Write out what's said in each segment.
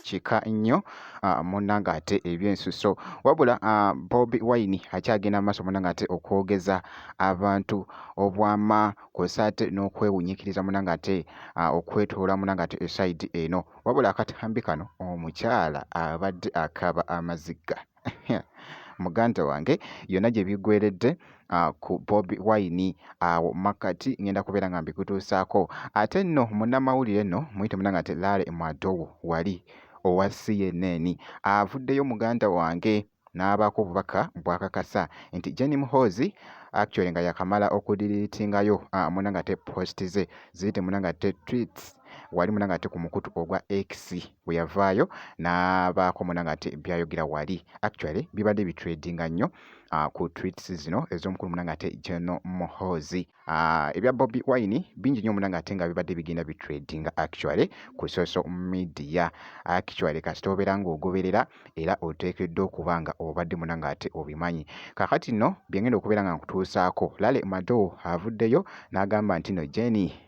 kika nnyo ah, munanga ate ebyensuso wabula ah, bobi wine akyagenda maaso munanga ate okwogeza abantu obwama kwesa ate n'okwewunyikiriza munanga ate ah, okwetoola munanga ate esaidi eno wabula akatambi kano omukyala abadde akaba amaziga muganda wange yonna gye biggweredde ah, ku bobi wine awo makkati ngenda kubeera nga mbikutuusaako ate nno munnamawulire nno muyite munanga nti lare mwadowo wali owa cnn avuddeyo muganda wange n'abaako obubaka bwakakasa nti jeni muhoozi actually nga yakamala okudiriitingayo ah, munanga te post ze ziyite munanga te tweets wali munanga ate ku mukutu ogwa X bwe yavaayo n'abaako munanga ate byayogera wali actually bibadde bitradinga nnyo uh, ku tweets zino ez'omukulu munanga ate General Muhoozi uh, ebya Bobi Wine bingi nnyo munanga ate nga bibadde bigenda bitradinga actually ku social media actually kasita obeera ng'ogoberera era oteekeddwa okuba nga obadde munanga ate obimanyi kakati nno byengenda okubeera nga nkutuusaako Lale Mado avuddeyo n'agamba nti no Jenny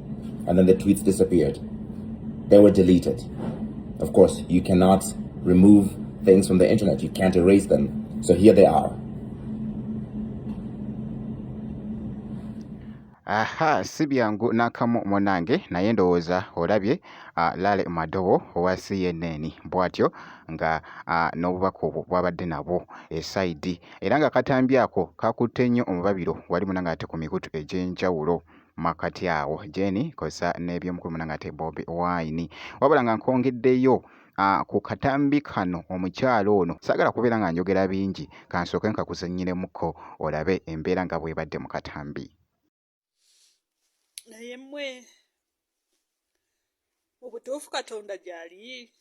and then the tweets disappeared. They were deleted. Of course, you cannot remove things from the internet, you can't erase them. So here they are. aha si byangu n'akamu munange naye ndowooza olabye ah, Lale Madowo owa CNN bw'atyo nga ah, n'obubaka obwo bw'abadde nabwo esayidi era nga akatambi ako kakutte nnyo omubabiro wali munange ate ku mikutu egy'enjawulo. makati awo jeni kosa n'ebyomukulu munange ate bobi wine wabula nga nkwongeddeyo Ah, ku katambi kano omukyala ono sagala kubeera nga njogera bingi kansooke nkakuzanyiremuko olabe embeera nga bwebadde mu katambi naye mwe mu butuufu katonda gyali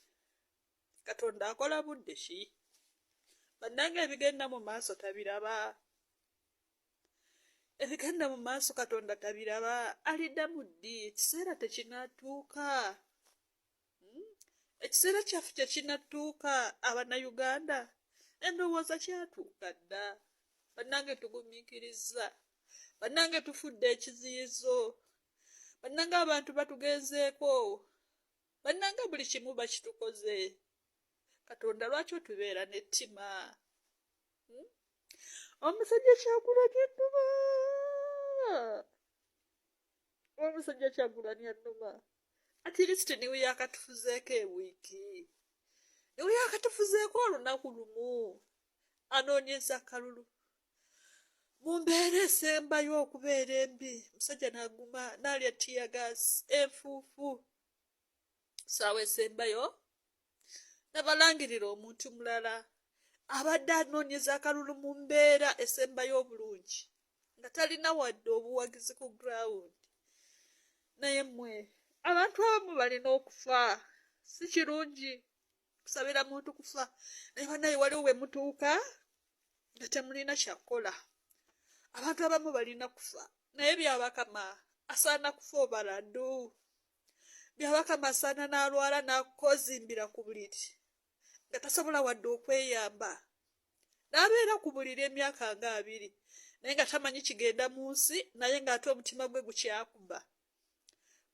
katonda akola budde ki bannanga ebigenda mu maaso tabiraba ebigenda mu maaso katonda tabiraba alidamu ddi ekiseera tekinatuuka hmm? ekiseera kyaffe kyekinatuuka abanayuganda endowooza kyatuuka dda bannange tugumikiriza bannange tufudde ekiziyizo bannange abantu batugenzeeko bannange buli kimu bakitukoze katonda lwaki otubeera n'ettima omusajja kyagulani ennuma omusajja kyagulani ennuma atirisiti niwe yakatufuzeeko ewiiki niwe yakatufuzeeko olunaku lumu anoonyeza akalulu mu mbeera esembayo okubeera embi musajja naguma nalya tiyagaasi enfuufu saawa esembayo nabalangirira omuntu mulala abadde anoonyeza akalulu mu mbeera esembayo obulungi nga talina wadde obuwagizi ku ground naye mwe abantu abamu balina okufa si kirungi kusabira muntu kufa naye banaye waliwo we mutuuka nga temulina kyakukola abantu abamu balina kufa naye byabakama asaana kufa obaladu byabaka masana n'alwala n'akozimbira ku buliri nga tasobola wadde okweyamba n'abeera ku buliri emyaka nga abiri naye nga tamanyi kigenda mu nsi naye ng'ate omutima gwe gukyakuba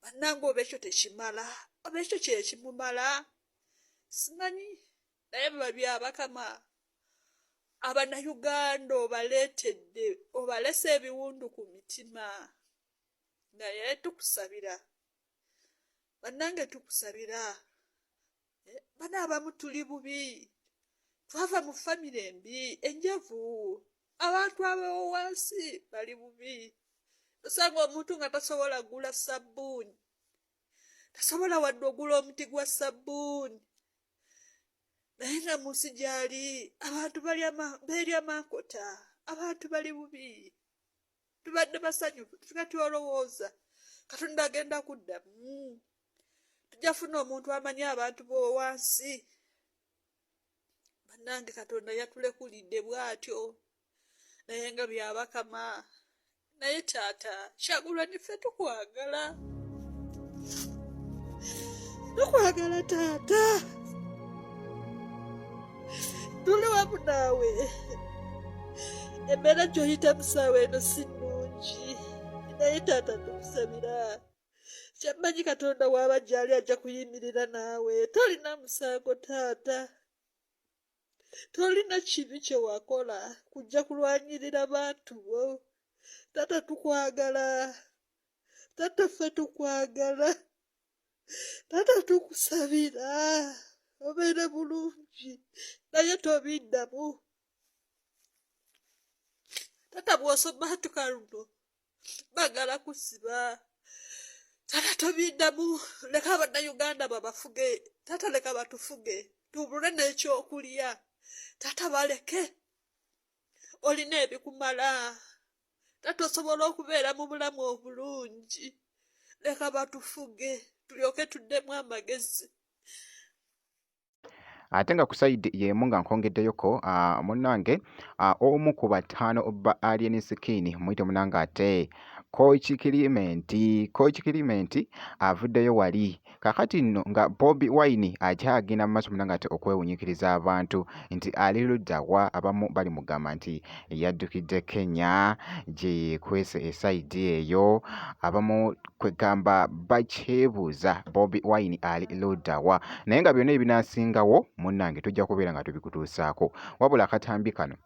bannanga oba ekyo tekimala oba ekyo kyekimumala simanyi naye biba byabakama abanayuganda obaleetedde obalese ebiwundu ku mitima naye tukusabira bannange tukusabira eh, bana abamu tuli bubi twava mu famire embi enjavu abantu abewo wansi bali bubi osanga omuntu nga tasobola gula sabbuuni tasobola wadde ogula omuti gwa sabbuuni naye nga mu nsi gyali abantu beerya mankota abantu bali bubi tubadde basanyufu tufuka tyolowooza katonda agenda kuddamu hmm. tujja funa omuntu amanyi abantu bowansi bannange katonda yatulekulidde bwatyo naye nga byabakama naye taata kyagulwa nife tukwagala tukwagala taata tuli wamu naawe embeera gyoyita musaawa eno si nnungi naye taata tukusabira kyammanyi katonda waaba gyali ajja kuyimirira naawe tolina musango taata tolina kibi kye wakola kujja kulwanyirira bantu bo taata tukwagala taata ffe tukwagala taata tukusabira obeere bulungi naye tobiddamu taata bwosoma tuka luno bagala kusiba taata tobiddamu leka abannayuganda babafuge taata leka batufuge tubule n'ekyokulya taata baleke olina ebikumala taata osobola okubeera mu bulamu obulungi leka batufuge tulyoke tuddemu amagezi ate nga ku sayidi y'emu nga nkongeddeyoko ah, munnange ah, omu ku bataano ba alien skin muyite munnange ate kochi kilimenti kochi kilimenti avuddeyo wali Kakati nno nga Bobi Wine akyagenda mu maaso muna ngate okwewunyikiriza abantu nti ali ludda wa abamu bali mugamba nti yaddukidde Kenya gye yeekwese esayidi eyo abamu kwegamba bakyebuuza Bobi Wine ali ludda wa naye nga byonna ebinaasingawo munnange tujja kubeera nga tubikutuusaako wabula akatambi kano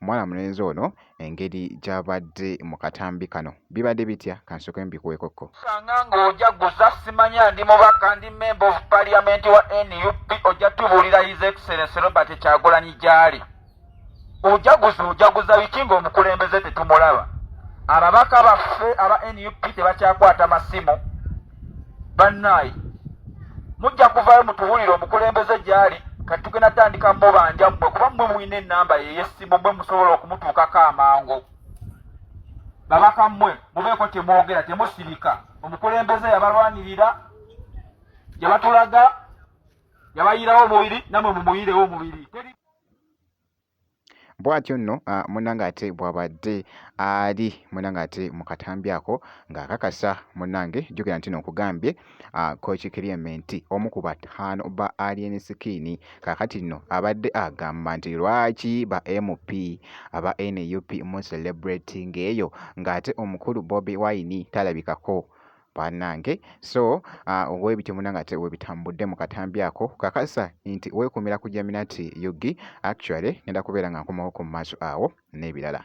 Omwana mulenzi ono engeri gy'abadde mu katambi kano bibadde bitya kansooke mbikuweekokko. Sanga ng'oja guza simanya ndi mubaka ndi member of parliament wa nup ojja tubuulira his excellence Robert Kyagulanyi gy'ali ojaguza ojaguza biki ng'omukulembeze tetumulaba ababaka baffe aba nup tebakyakwata masimu bannaayi mujja kuvaayo mutuwulire omukulembeze gyali kati tugenda tandika mubanja mmwe kuba mmwe mulina enamba yeyesimu mwe musobola okumutuukako amangu babaka mmwe mubeeko temwogera temusirika omukulembeze yabalwanirira yabatulaga yabayiirawo omubiri namwe mumuyirewo omubiri Bwatyo nno munnange ate bw'abadde ali munnange ate mu katambi ako ng'akakasa munnange, jjukira nti no nkugambye Kooki Kiriyementi omu ku bataano ba Alien Skin kaakati nno abadde agamba nti lwaki ba MP aba nup mu celebrating eyo ng'ate omukulu Bobi Wine talabikako. banange so uh, webityo munanga ate webitambudde mu katambi ako kakasa nti wekumira ku jaminati yugi actually ngenda kubeera nga nkomawo ku maaso awo n'ebirala